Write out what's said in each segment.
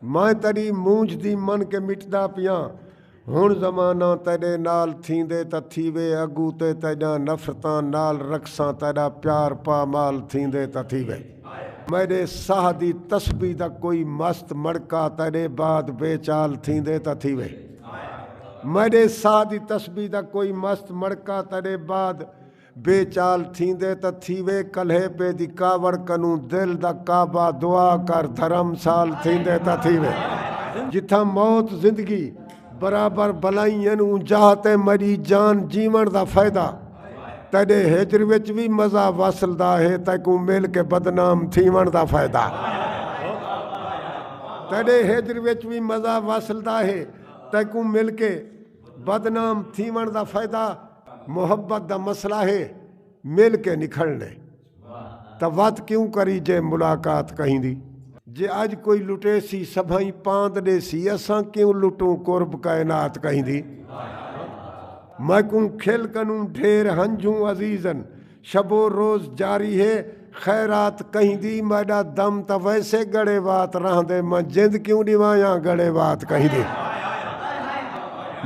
میں تیݙی مونجھ دی من کے مٹدا پیاں ہݨ زماناں تیݙے نال تھیندے تاں تھیوے اڳوں تے تیݙیاں نفرتاں نال رکھساں تیݙا پیار پامال تھیندے تاں تھیوے میݙے ساہ دی تسبیح دا کوئی مست مݨکا تیݙے بعد بے چال تھیندے تاں تھیوے میݙے ساہ دی تسبیح دا کوئی مست مݨکا تیݙے بعد بے چال تھیندے تاں تھیوے کلہے پے دی کاوڑ کنوں دل دا کعبہ دعا کر دھرم سال تھیندے تاں تھیوے۔ جتھاں موت زندگی برابر بلائیں ان جاہ تے مری جان جیوݨ دا فیدہ تیڈے ہجر وچ وی مزہ وصل دا ہے تیکوں مل کے بدنام تھیوݨ دا فیدہ تیڈے ہجر وچ وی مزہ وصل دا ہے تیکوں مل کے بدنام تھیوݨ دا فائدہ محبت دا مسئلہ ہے مل کے نکھڑنے تاں وت کیوں کری جے ملاقات کہیں دی۔ جے اج کوئی لٹیسی سبھائیں پاند ݙیسی اساں کیوں لٹوں قرب کائنات کہیں دی۔ میکوں کھل کنوں ڈھیر ہنجھوں عزیز ہن شب و روز جاری ہے خیرات کہیں دی میڈا دم تاں ویسے گڑے وات رہندے میں جند کیوں ڈیوایاں گڑے وات کہیں دی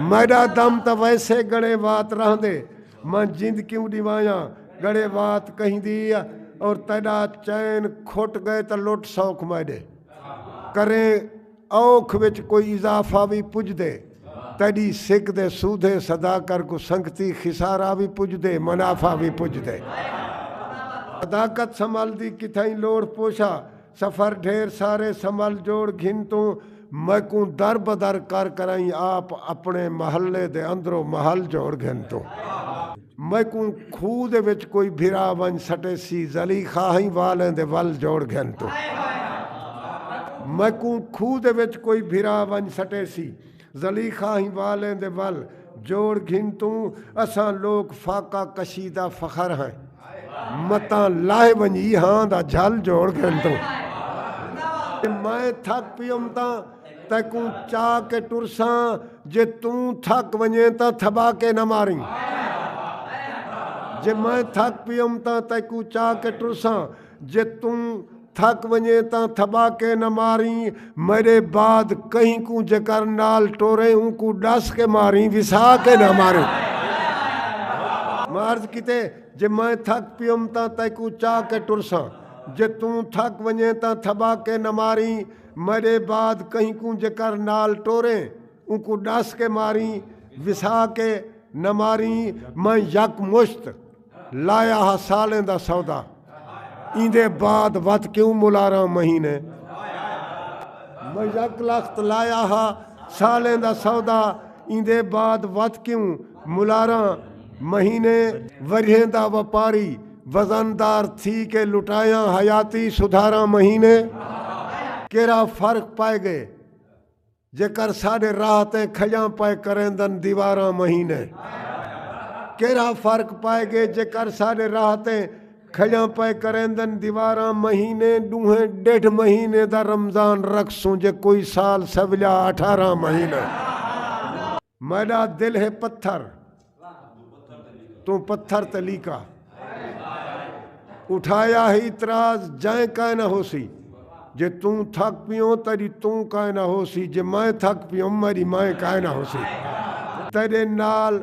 میڈا دم تاں ویسے گڑے وات رہندے میں جند کیوں ڈیوایاں گڑے وات کہیں دی اور تیڈا چین کھٹ گئے تاں لٹ سوکھ میڈے کریں اوکھ وچ کوئی اضافہ وی پجدے تیڈی سک دے سودھے صداکر کوں سنگتی خسارہ وی پجدے منافع وی پجدے صداقت سمل دی کتھائیں لوڑھ پوشا سفر ڈھیر سارے سمل جوڑ گھن توں میکوں در بدر کر کرائیں آپ اپنے محلے دے اندرو محل جوڑ گھن توں۔ میکوں کھوہ دے وچ کوئی بھرا ونج سٹے سی زلیخا ہئیں والیں دے ول جوڑ گھن توں میکوں کھوہ دے وچ کوئی بھرا ونج سٹے سی زلیخا ہئیں والیں دے ول جوڑ گھن توں اساں لوک فاقہ کشی دا فخر ہئیں متاں لاہ ونجی ہاں دا جھل جوڑ گھن توں میں تھک پیوم تاں۔ تیکوں چا کے ٹرساں جے توں تھک ونجیں تاں تھباکے نہ ماریں جے میں تھک پیوم تاں تیکوں چا کے ٹرساں جے توں تھک ونجیں تاں تھباکے نہ ماریں میڈے بعد کہیں کوں جیکر نال ٹورے اونکوں ڈس کے ماریں وسا کے نہ ماریں میں عرض کیتے جے میں تھک پیوم تاں تیکوں چا کے ٹرساں جے توں تھک ونجیں تاں تھباکے نہ ماریں میݙے بعد کہیں کوں جے کر نال ٹوریں اونکوں ݙس کے ماریں وسا کے نہ ماریں میں یک مشت لایا ہا سالیں دا سودا ایندے بعد وت کیوں ملاراں مہینے میں یک لخت لایا ہا سالیں دا سودا ایندے بعد وت کیوں ملاراں مہینے ورھیں دا وپاری وزن دار تھی کے لٹایاں حیاتی سدھاراں مہینے کیرھا فرق پائے گے جے کر ساڈے راہ تے کھجاں پئے کریندن دیواراں مہینے کیرھا فرق پائے گے جے کر ساڈے راہ تے کھجاں پئے کریندن دیواراں مہینے ڈوہیں ڈیڈھ مہینے دا رمضان رکھسوں جے کوئی سال سویلا اٹھاراں مہینے۔ میڈا دل ہے پتھر توں پتھر تے لیکا اٹھایا ہی اتراز جائیں کائے نہ ہو سی جے توں تھک پیوں تیری توں کائے نہ ہو سی جے میں تھک پیوں میری مائیں کائے نہ ہو سی تیرے نال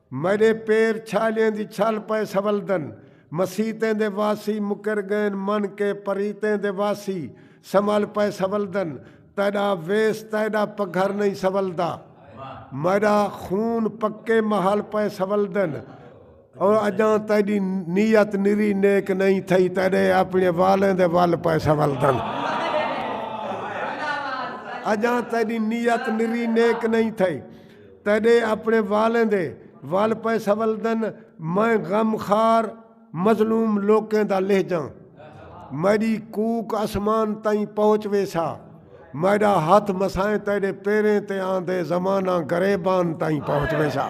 میڈے پیر چھالیں دی چھل پئے سولدن مسیتیں دے واسی مکر گئن من کے پریتیں دے واسی سنبھل پئے سولدن تیڈا ویس تیڈا پگھر نئیں سولدا میڈا خون پکے محل پئے سولدن او اجاں تیڈی نیت نری نیک نئیں تھئی تیڈے اپنے والیں دے ول پئے سولدن اجاں تیڈی نیت نری نیک نئیں تھئی تیݙے اپݨے والیں دے ول پئے سولدن میں غم خار مظلوم لوکیں دا لہجاں میݙی کوک اسمان تئیں پہچ ویسا میݙا ہتھ مسائیں تیݙے پیریں تے آندے زمانہ گریبان تئیں پہچ ویسا۔